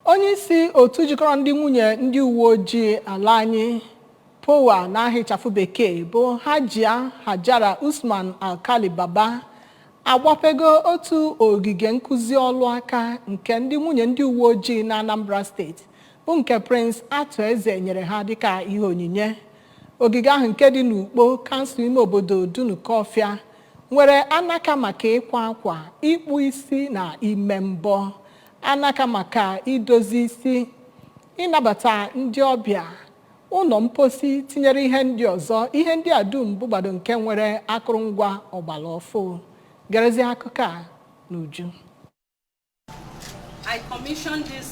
Onye isi otu jikọrọ ndị nwunye ndị uwe ojii ala anyị POWA n'aha ịchafụ bekee bụ Hajia Hajara Usman Alkali Baba agbapego otu ogige nkụzi ọlụ aka nke ndị nwunye ndị uwe ojii na Anambra steeti bụ nke Prince Arthur Eze nyere ha dịka ihe onyinye. Ogige ahụ nke dị n'Ukpo kansụl ime obodo Dunukọfịa nwere anaka maka ịkwa akwa, ịkpụ isi na ime mbọ. anaka maka idozi isi, ịnabata ndị ọbịa, ụlọ mposi tinyere ihe ndị ọzọ. Ihe ndị a dum bụgbado nke nwere akụrụngwa ọgbara ọfụụ. Gerezie akụkọ a n'uju. I commissioned this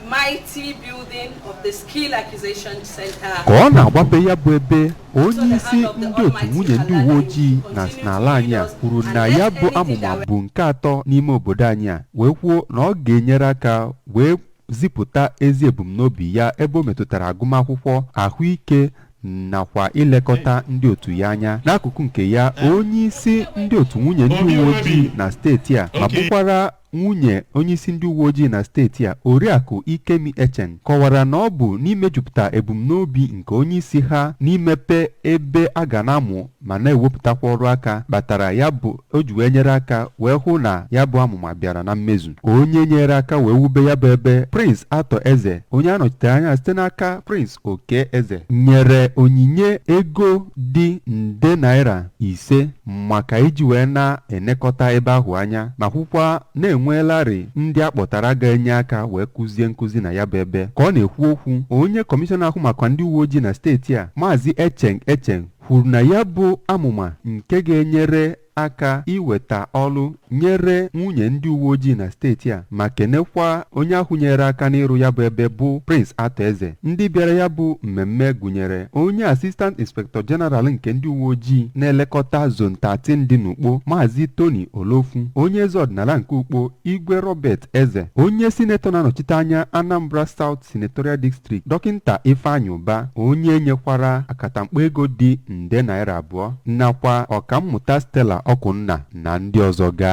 mighty building of the Skill Acquisition Center. ka ọ na-agbape ya bụ ebe onye isi ndị otu nwunye ndị uwe ojii na n'ala anyị a kwuru na ya bụ amụma bụ nke atọ n'ime obodo anyị a wee kwuo na ọ ga-enyere aka wee zipụta ezi ebumnobi ya ebe o metụtara agụmakwụkwọ ahụike nakwa ilekọta ndị otu ya anya n'akụkụ nke ya onye isi ndị otu nwunye ndị uwe ojii na steeti a ma bụkwara nwunye onyeisi ndị uwe ojii na steeti a oriakụ Ikemi Echeng kọwara na ọ bụ n'imejupụta ebumnobi nke onyeisi ha n'imepe ebe a ga na-amụ ma na-ewepụtakwa ọrụ aka kpatara ya bụ o ji wee nyere aka wee hụ na ya bụ amụma bịara na mmezu onye nyere aka wee wube ya bụ ebe Prince Arthur Eze onye a nọchitere anya site n'aka Prince Okey Eze nyere onyinye ego dị nde naira ise maka iji wee na-enekọta ebe ahụ anya ma kwukwa na e nweelarị ndị a kpọtara ga-enye aka wee kụzie nkụzi na ya bụ ebe. Ka ọ na-ekwu okwu, onye kọmishọna ahụ maka ndị uwe ojii na steeti a, Maazị Echeng Echeng kwuru na ya bụ amụma nke ga-enyere aka iweta ọrụ nyere nwunye ndị uwe ojii na steeti a ma kenekwa onye ahụ nyere aka n'ịrụ ya bụ ebe bụ Prince Arthur Eze ndị bịara ya bụ mmemme gụnyere onye Assistant Inspector General nke ndị uwe ojii na-elekọta Zone 13 dị n'Ukpo Maazị Tony Olofu onye eze ọdịnala nke Ukpo Igwe Robert Eze onye sinetọ na-anọchite anya Anambra South Senatorial District Dọkịnta Ifeanyị Ụba onye nyekwara akatamkpo ego dị nde naira abụọ nakwa ọkammụta Stella Ọkụnna na ndị ọzọ ga